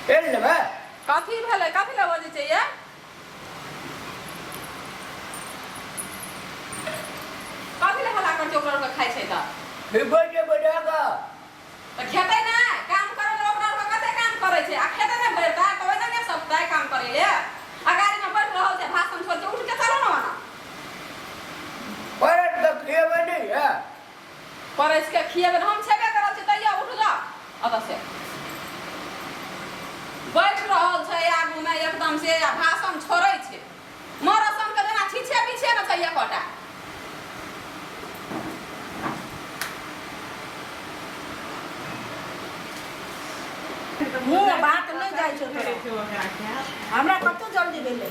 पेड़ लेबे कथी भेलै कथी लए बजै छै ये कथी लए हल्ला करै छै ओकरा ओकरा खाइ छै तऽ हिबै जे बजा का तऽ खेतै ने काम करै लए ओकरा ओकरा कते काम करै छै आ खेतै ने भरि तऽ कहबै तऽ नहि सकतै काम करै ले आ गाड़ीमे बैठ रहल छै भाषण छोड़ छै उठके चलो ने वहाँ परत तक खेबै नहीं है परसि कऽ खिएबै ने हम छेबे करल छी तैयो उठ जा अतऽ से बैठ रहल छै आगूमे एकदम से आ भाषण छोड़ै छै मरसमके जेना छीछे पीछे ने छै एकटा मुँह बात नहि जाइ छै तोरा हमरा कतहु जल्दी भेलै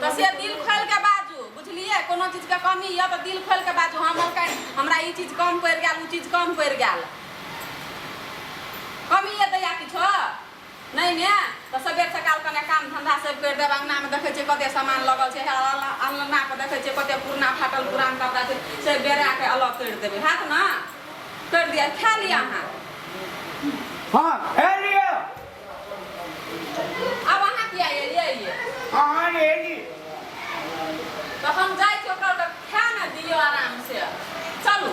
तऽ से दिल खोलि कऽ बाजू बुझलियै कोनो चीजके कमी यऽ तऽ दिल खोलि कऽ बाजू हम मौका हमरा ई चीज कम पड़ि गेल ओ चीज कम पड़ि गेल कमी यऽ दैया किछो नहि ने तऽ सबेर सकाल कने काम धंधा सब करि देब अङ्गनामे देखै छियै कते सामान लगल छै हे अङ्गना पर देखै छियै कते पुरना फाटल पुरान कपड़ा छै से बेरा के अलग करि देबै हैत ने करि दिअ खा लिअ अहाँ हाँ ए आब अहाँ किया एलियै ये अहाँ ने एली तऽ हम जाइ छी ओकरा ओकरा खाए ने दियौ आराम से चलू